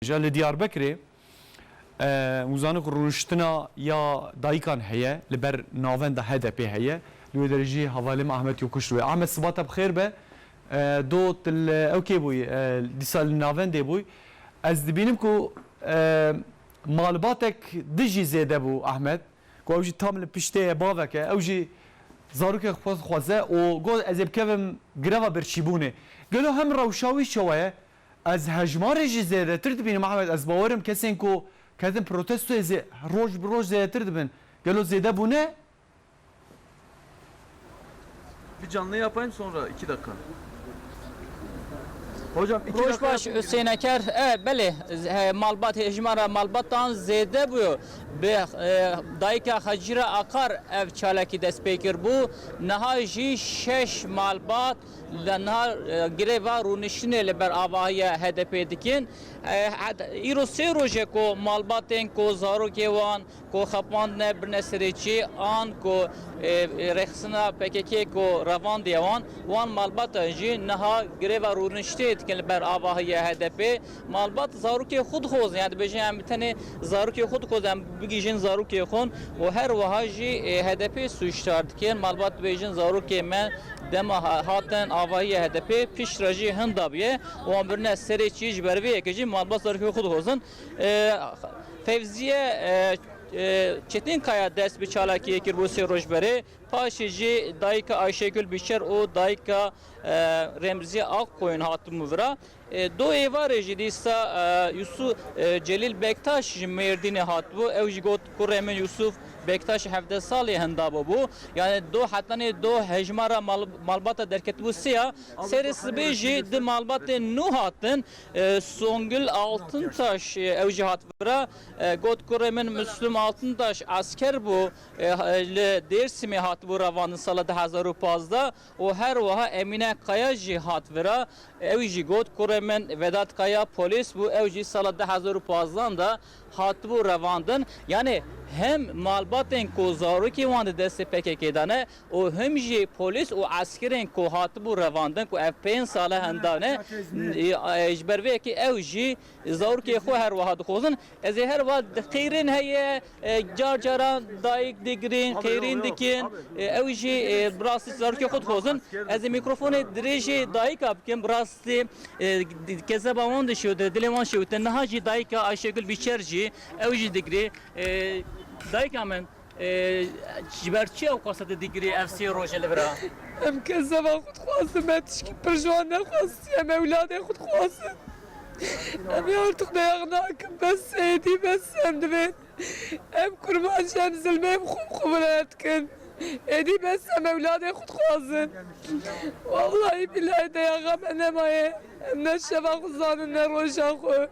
Ja li Diyarbekirê hûzanik û rûniştina ya dayikan heye li ber navenda HDP'ê heye. Li wê derê jî hevalê me Ahmet Yokuş dûye. Ahmet sibata bi xêr be. Do tu li ew kê bûyî? Dîsa li navendê bûyî. Ez dibînim ku malbatek dijî zêde bû Ahmet. Ku ew jî tam li piştê ye bavek e. Ew jî zarokên xwe dixwaze û got ez ê bikevim greva birçîbûnê. Gelo hem rewşa wî çawa ye? Ez hejmarê jî zêdetir dibînim Ahmet, ez bawer im kesên ku ketin protestoyê zê roj bi roj zêdetir dibin. Gelo zêde bûne? Bir canlı yapayım sonra iki dakika. Hocam iki Roj dakika baş yapayım. Hüseyin Eker. E, belê malbat hejmara malbatan zêde bûyo. Bi dayika Hacîra Akar ev çalakî dest pê kir bû. Niha jî şeş malbat Li niha greva rûniştinê li ber avahiya HDP'ê dikin. Îro sê roj e ku malbatên ku zarokê wan ku xapandine birine serê çê an ku rêxistina PKK'ê ku revandiye wan, wan malbatan jî niha greva rûniştê dikin li ber avahiya HDP'ê. Malbat zarokê xwe dixwazin ya dibêjin em bi tenê zarokê xwe dixwazin em bigihîjin zarokê xwe û her wiha jî HDP sûcdar dikin. Malbat dibêjin zarokê me dema hatin avahiya HDP pişt re jî hin dabiye wan birine serê çî ji ber vê yekê jî malbat zarokê xwe dixwazin. Fevziye Çetinkaya dest bi çalakiyê kir bo sê roj berê paşê jî dayika Ayşegul Bîşer û dayika Remziye Akkoyun hatibûn vira. Do êvarê jî dîsa Yusû Celîl Bektaş ji Mêrdînê hatibû. Ew jî got, Kurê min Yusûf Bektaş hevdeh salî henda bûbû. Yanê do hetanê do hejmara malbata derketibû sê ya. Serê sibê jî di malbatê nû hatin. Songil Altıntaş ew jî hat vira. Got, Kurê min Muslûm Altıntaş esker bû. Li Dêrsimê hatibû revandin sala du hezar û pazdeh. û her wiha Emîne Kaya jî hat vira, ew jî got, Kurê min Vedat Kaya polîs bû, ew jî sala du hezar û pazdeh de hatibû revandin. Yanî him malbatên ku zarokên wan di destê pkk de ne û him jî polîs û eskerên ku hatibû revandin ku ev pênc sal e henda ne, ji ber vê yekê ew jî Zarokê xwe her wiha dixwazin. Ez ê her wiha qeyrên heye, car caran dayik digirin, qeyrîn dikin. Ew jî bi rastî zarokê xwe dixwazin. Ez ê mîkrofonê dirêjê dayika bikim. Bi rastî kezeba wan dişewite, dilê wan şewite. Niha jî dayika Ayşegul Bîçer jî ew jî digirê. Dayika min. Ji ber çi ew kaseti digirê ev sê roj e li vir a? Em kes zeva xwe dixwazin, me tişkî pir ji wan nexwestiye, em ewladê xwe dixwazin. Em ê artiq beyaq nakin, bes e, êdî bes e, em divên em kurmancî em zilmê bi xwe bi xwe vire dikin. Êdî bes e, em ewladê xwe dixwazin. Wellahî billahî deyaxa me nemaye, em ne şeva xwe zanin ne roja xwe.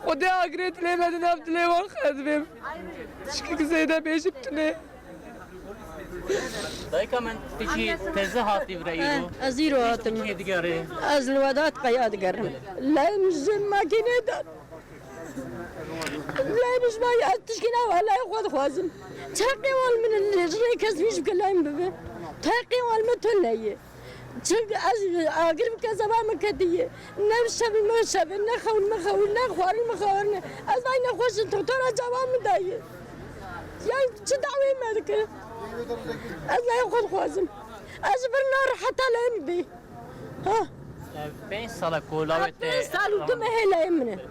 Xwedê agirê dilê me di nav dilê wan xezibêm. Tişkî zêde bê ji tune. Dayika min tu jî teze hatî vire îro. Ez îro hatim. Kê digerê? Ez li Wedat qeya digerim. Leyê min ji cem makînê dan. Leyê min ji ber ez tişkî nawa leyê xwe dixwazim. Teqê wan min li rê kes nîş bike leyê min bibe. Teqê wan min tu leyê. Çimkî ez agir bi kezeba min ketiyê. Ne şevî min şevê, ne xewin min xewî, ne xwarin min xwarin. Ez vay nexweş in toktora çavan min dayê. Yan çi daweyê me dike? Ez laya xwe dixwazim. Ez ji vir nereheta laya min bê. Pênc sal e ku lawê te. Pênc sal û du mehê laya min e.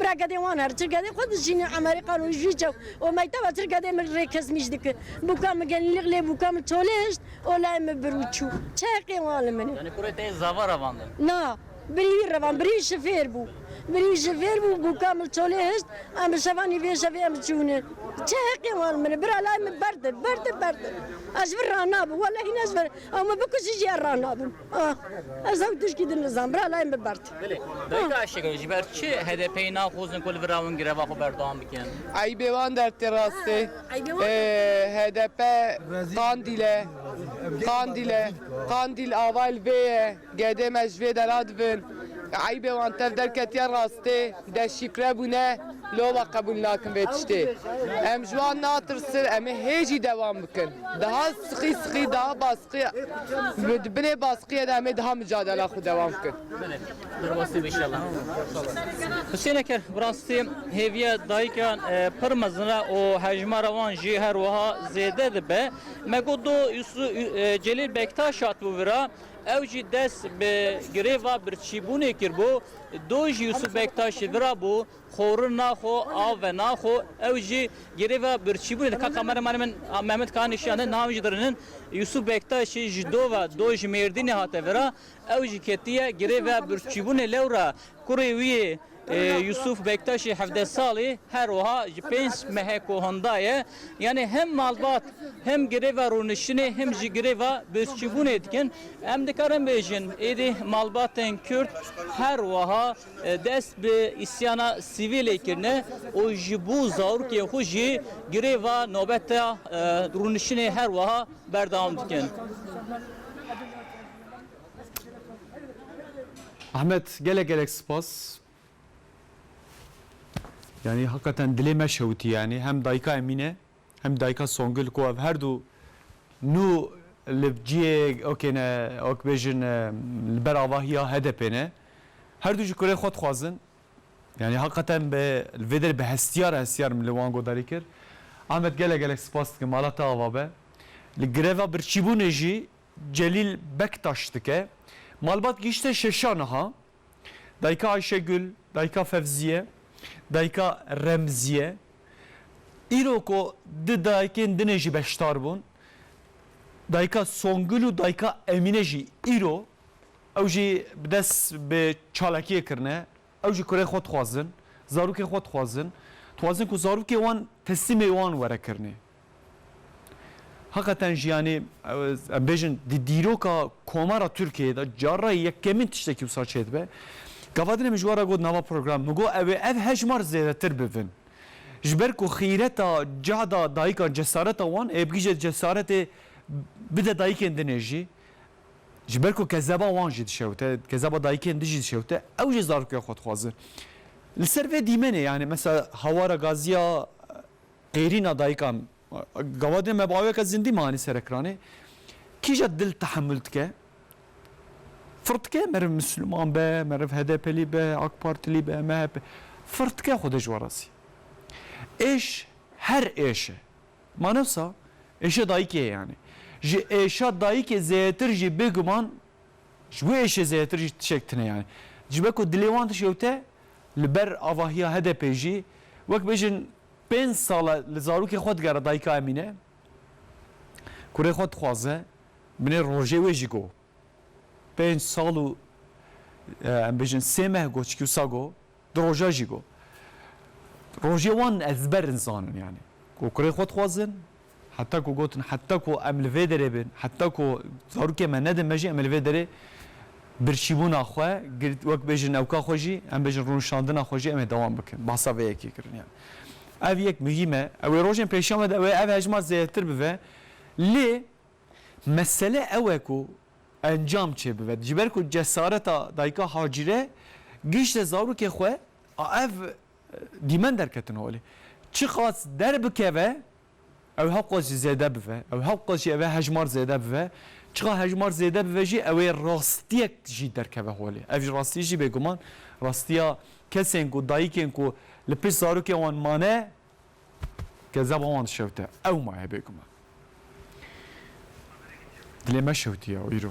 Bira gedê wan her çi gedê xwe dijîne Emerîkan û Jwîce û mekteba tir gedê min rê kesmîj dikin. Bûka min genîlîq lê bûka min çolêşt û layê min bir û çû. Çeqê wan li min e. Yanî kurê te yê zava revandin? Na, birî wî revand, birî wî ji fêr bû. Birî wî ji fêr bû, bûka min çolêşt, em bi şevanî vê şevê em çûne. Çeqê wan li min e. Bira layê min berd e, berd e, berd e. Ez ji vir ranabim, wellehî ne ji vir. Ew min bikujî jî ez ranabim. Ah, ez hewl tişkî din nizan, bira layê min bibert. Belê, dayika Aşek e, ji ber çi HDP'yê naxwazin ku li vir re wan greva xwe berdewam bikin? Eybê wan dertê rast e. HDP Qandîl e. Qandîl e. Qandîl avayê li vê ye. Gedê me ji vê de radibin. Eybê wan tev derketiye rastê. Deşifre bûne, lova qebûl nakin vê tiştê. Em ji wan natirsin, em ê hê jî dewam bikin. Daha siqî siqî, daha baskiya, di binê baskiyê de em ê daha micadela xwe dewam bikin. Derbasî bê şela. Husên Eker, Bi rastî hêviya dayikan pir mezin e û hejmara wan jî her wiha zêde dibe. Me got do Celîl Bektaş hatibû vira, ew jî dest bi girêva birçîbûnê kiribû. Doj Yûsûf Bektaşî vira bû xorûn na xo av ve na xo ew jî girêva birçîbûnê di ka kameramana min Mehmet Kaan jî şiyane na min jî dirinin Yûsûf Bektaşî ji dova Doj Mêrdînê hate vira ew jî ketiye girêva birçîbûnê lewra kurê wî yê Yûsûf Bektaşî hevdeh salî her wiha ji pênc mehe ko hinda ye. Yanî hem malbat hem greva rûniştinê hem jî greva birçîbûnê dikin. Em dikarin bêjin êdî malbatên Kurd her wiha dest bi îsyana sivîlê kirine û ji bo zarokên xwe jî greva nobeta rûniştinê her wiha berdewam dikin. Ahmet, gelek gelek sipas. Yanî heqeten dilê me şewitî yanî hem dayika Emîne hem dayika Songil ku ev her du nû li ciyê ok ne ok bêjin li ber avahiya HDP'ê ne her du ji kurê xwe dixwazin yanî heqeten bi li vê derê bi hestiyar hestiyar min li wan godarî kir. Ahmet gelek gelek spas dikim mala te ava be. Li greva birçîbûnê jî Celîl Bektaş dike. Malbat gihişte şeşa niha. Dayika Ayşegul, dayika Fevziye, dayika Remziye îro ku du dayikên din ê jî beşdar bûn, dayika Songul û dayika Emîne jî îro ew jî bi dest bi çalakiyê kirine. Ew jî kurê xwe dixwazin, zarokên xwe dixwazin. Dixwazin ku zarokê wan teslîmê wan were kirinê. Heqeten jî yanî em bêjin di dîroka Komara Tirkiyeyê de carayê yekemîn tiştekî wisa çêdibe. Gavadinê min ji wan re got nava programê min got ew ê ev hejmar zêdetir bibin. Ji ber ku xîreta cehda dayikan cesareta wan ê bigihîje cesaretê bide dayikên din ê jî. Ji ber ku kezeba wan jî dişewite, kezeba dayikên din jî dişewite, ew jî zaroka xwe dixwazin. Li ser vê dîmenê yanî mesela hawara gaziya Qêrîna dayika Gawadê me bi aweke zindî ma anî serekranê. Kîja dil tehemul dike? Fir dike meriv Misliman be, meriv HDPlî be, AK Partilî be, MHP. Fir dike xwedê ji we re zî. Êş her êş e. Ma ne wisa êşa dayikê ye yanî. Ji êşa dayikê zêtir jî bêguman ji wê êşê zêtir jî tişek tune yanî. Ji ber ku dilê wan tişewte li ber avahiya HDPê jî wek bêjin Pênc sal e li zarokê xwe digere dayika Emîne. Kurê xwe dixwaze. Binê rojê wê jî got. Pênc sal û em bêjin sê meh got çikî wisa got. Du roja jî got. Rojê wan ezber in zanin yanî. Got kurê xwe dixwazin. Heta ku gotin heta ku em li vê derê bin, heta ku zarokên me nedin me jî em ê li vê derê birçîbûna xwe, girt wek bêjin newka xwe jî, em bêjin rûnişandina xwe jî em ê dewam bikin. Bahsa vê yekê kirin yan. Ev yek muhîm e. Ew ê rojên pêşiya me de ew ê ev hejmar zêdetir bibe. Lê mesele ew e ku encam çê bibe. Ji ber ku cesareta dayika Hacîre gihişte zarokê xwe a ev Dîmen derketin holê. Çiqas derbikeve ew hewqas jî zêde bive. Ew hewqas jî ev e hejmar zêde bive. Çiqas hejmar zêde bive jî ew ê rastiyek jî derkeve holê. Ev rastî jî bêguman rastiya kesên ku dayikên ku li pişt zarokên wan mane kezeba wan dişewite. Ew maye bêguman. Dilê me şewitiye îro.